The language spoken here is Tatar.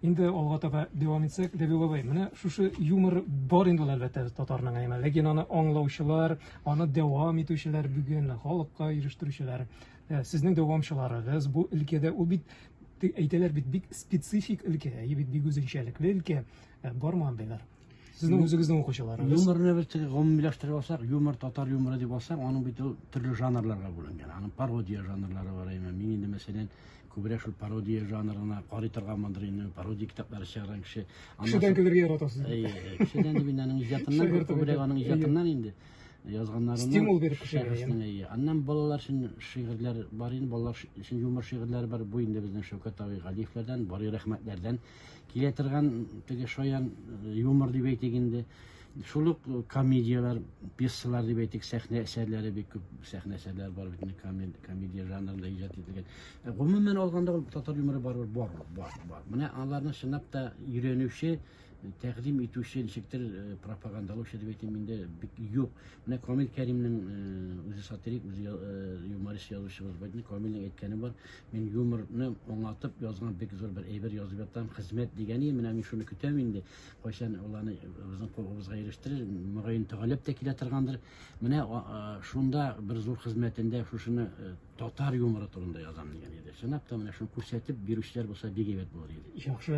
Инде алга таба дәвам итсәк, Дәби бабай, менә шушы юмор бар инде ул әлбәттә татарның әйме. Ләкин аны аңлаучылар, аны дәвам итүчеләр бүген халыкка ирештерүчеләр, э, сезнең дәвамчыларыгыз бу өлкәдә ул бит әйтәләр бит бик специфик өлкә, әйе бит бик үзенчәлекле өлкә, э, бармы андыйлар? Сезнең ну, үзегезнең укучыларыгыз. Юморны без гомумиләштереп алсак, юмор татар юморы дип алсак, аның бит ул төрле жанрларга бүленгән. Аның пародия жанрлары бар әйме. Мин инде мәсәлән күбрәк шул пародия жанрына карый торган мандыр инде, пародия китаплары чыгарган кеше. Кешедән көлергә яратасыз. Әйе, кешедән дип инде аның иҗатыннан, күбрәк аның иҗатыннан инде язганнарына стимул биреп кешегә. Аннан балалар өчен шигырьләр бар инде, балалар өчен юмор шигырьләре бар. Бу инде безнең Шәүкәт абый Галиевләрдән, Барый рәхмәтләрдән Килә торган теге шаян э, юмор дип әйтик инде. Шул ук комедияләр, пьесалар дип әйтик, сәхнә әсәрләре бик күп сәхнә әсәрләре бар бит инде комед- комедия жанрында иҗат ителгән. Ә Гомумән алганда ул татар юморы барыбер бар, ул, бар, бар. Менә аларны чынлап та өйрәнүче, тәкъдим итүче, ничектер э, пропагандалаучы дип әйтим инде, бик юк. Менә Камил Кәримнең э, үзе сатирик, үзе я- э, юморист язучыбыз бар. Камилнең әйткәне бар. Мин юморны аңлатып язган бик зур бер әйбер язып ятам, хезмәт дигән ие, менә мин шуны көтәм инде. Кайчан ул аны безнең кулыбызга ирештерер, мөгаен тәгаләп тә килә торгандыр. Менә шунда бер зур хезмәтендә шушыны э, татар юморы турында язам дигән иде. Чынлап та менә шуны күрсәтеп бирүчеләр булса бик әйбәт булыр иде. Яхшы